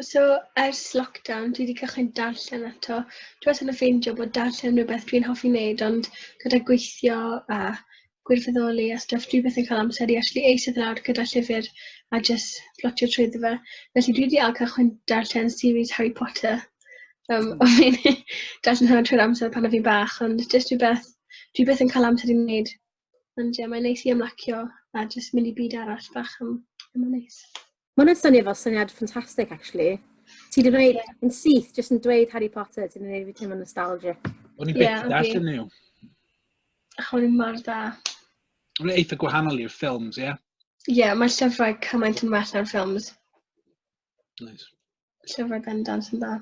So, ers lockdown, dwi wedi cychwyn darllen eto. Dwi wastad yn ffeindio bod darllen yn rhywbeth dwi'n hoffi wneud, ond gyda gweithio a gwirfoddoli a stwff, dwi byth yn cael amser i actually eistedd lawr gyda llyfr a jyst plotio trwyddo fe. Felly dwi wedi ail cychwyn darllen series Harry Potter. Um, o fi'n darllen hwnna trwy'r amser pan o fi'n bach, ond jyst rhywbeth dwi byth yn cael amser i wneud Ond ie, mae'n neis i ymlacio a jyst mynd i byd arall bach am, am yn neis. Mae'n hwnna'n swnio fel syniad ffantastig, actually. Ti wedi gwneud yeah. yn syth, jyst yn dweud Harry Potter, ti'n gwneud fi teimlo nostalgic. O'n i'n yeah, beth okay. nhw. Ach, o'n i'n mor da. O'n i'n eitha gwahanol i'r ffilms, ie? Yeah? Ie, yeah, mae llyfrau cymaint yn well na'r ffilms. Nice. Llyfrau bendant yn dda.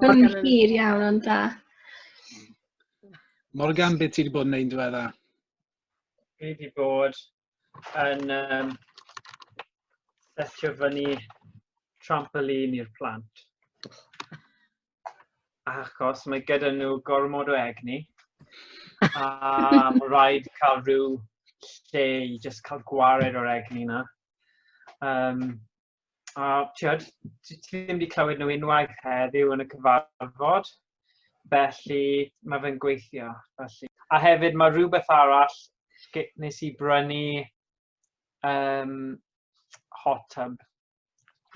Mae'n hir iawn ond da. Morgan, beth ti wedi bod yn neud diwedda? Fi wedi bod yn um, setio fyny trampolin i'r plant. Achos mae gyda nhw gormod o egni. A mae rhaid cael rhyw lle i just cael gwared o'r egni na. Um, a tiod, ti ddim wedi clywed nhw unwaith heddiw yn y cyfarfod, felly mae fe'n gweithio. Felly. A hefyd mae rhywbeth arall nes i brynu um, hot tub.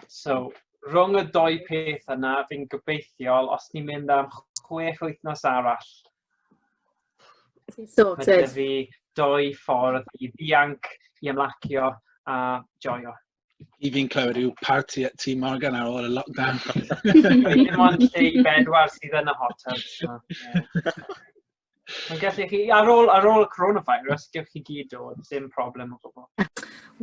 So, rhwng y doi peth yna, fi'n gobeithiol, os ni'n mynd am chwech wythnos arall, Ti'n sorted. Mae fi doi ffordd i ddianc, i ymlacio a joio. I fi'n clywed yw part i ti Morgan ar ôl y lockdown. Dim ond lle i bedwar sydd yn y hot tub. So, yeah. Mae'n gallu chi, ar ôl, ar ôl y coronavirus, gewch chi gyd dod, dim problem o gwbl.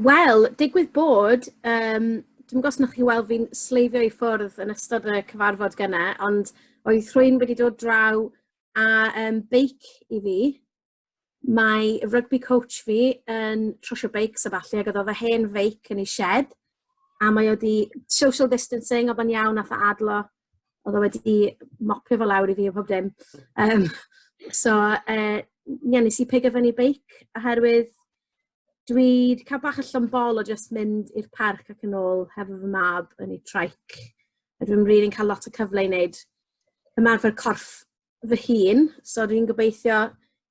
Wel, digwydd bod, um, dwi'n gwybod os chi weld fi'n sleifio i ffwrdd yn ystod y cyfarfod gyna, ond oedd rhywun wedi dod draw a um, beic i fi. Mae rugby coach fi yn trwsio beics a falle, ac oedd o fy hen feic yn ei shed, a mae o di social distancing, oedd o'n iawn, a adlo, oedd o wedi mopio fo lawr i fi o pob dim. Um, so, uh, ie, nes i pigo fyny beic, oherwydd dwi 'di ca'l bach o llond-bol o jyst mynd i'r parc ac yn ôl hefo fy mab yn ei traic. A dwi'm rili'n cael lot o cyfle i wneud ymarfer corff fy hun, so dwi'n gobeithio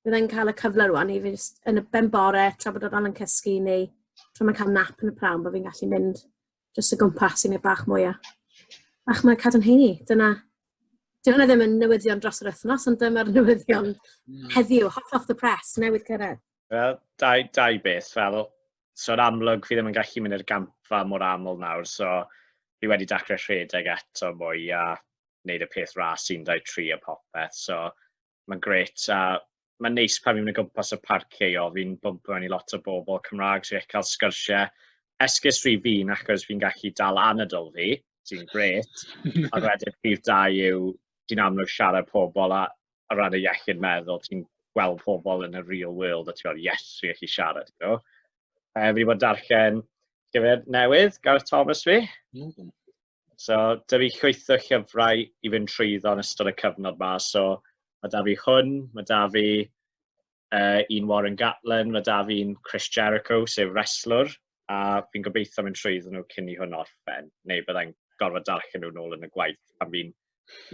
byddai'n cael y cyfle rwan i fi jyst yn y ben bore tra bod o dal yn cysgu neu tra mae'n cael nap yn y pram, bod fi'n gallu mynd jyst o gwmpas i wneud bach mwy o bach mwy o cadarnheini. Dyna dyw e ddim yn newyddion dros yr wythnos ond dyma'r newyddion heddiw, hot off the press, newydd cyrraedd. Wel, dau, dau beth, fel, so yn amlwg fi ddim yn gallu mynd i'r gampfa mor aml nawr, so fi wedi dacre rhedeg eto mwy a wneud y peth ras 1-2-3 a popeth, so mae'n gret a mae'n neis pan fi'n mynd o gwmpas y parc ceio, fi'n bwmpo mewn i lot o bobl Cymraeg, so fi'n cael sgyrsiau esgus rhy fi'n achos fi'n gallu dal anadl fi, sy'n gret, a wedyn prif dau yw ti'n amlwg siarad pobl a o ran y iechyd meddwl, ti'n gweld pobl yn y real world a ti'n gweld, yes, fi eich i siarad. You know? uh, fi wedi bod yn darllen llyfr newydd, Gareth Thomas fi. Mm. So, da fi chwytho llyfrau i fynd trwyddo yn ystod y cyfnod ma. So, mae da fi hwn, mae da fi uh, un Warren Gatlin, mae da fi'n Chris Jericho, sef wrestlwr, a fi'n gobeithio mynd trwy iddyn nhw cyn i hwn orffen, neu byddai'n gorfod darllen nhw'n ôl yn y gwaith pan fi'n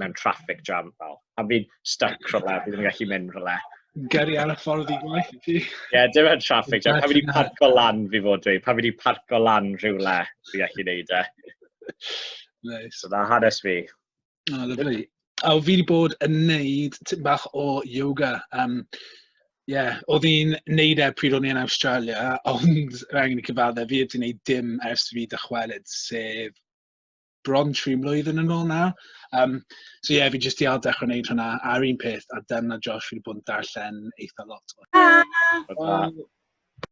mewn traffic jam fel. Pan fi'n stuck rhywle, fi ddim yn gallu mynd rhywle. Geri ar y ffordd i gwaith i ti. Ie, dim yn traffic jam. Pan fi wedi parco lan fi fod dweud, pan fi wedi parco lan rhywle, fi gallu neud e. Nice. So na hanes fi. O, oh, lyflu. A fi wedi bod yn neud tipyn bach o yoga. Um, yeah, oedd hi'n neud e pryd o'n i yn Australia, ond rhaid angen i cyfadde, fi wedi neud dim ers fi dychwelyd, sef bron tri mlynedd yn ôl nawr. Um, so ie, yeah, fi jyst i al dechrau wneud hwnna ar un peth, a dyna Josh fi wedi bod yn darllen eitha lot. Ah!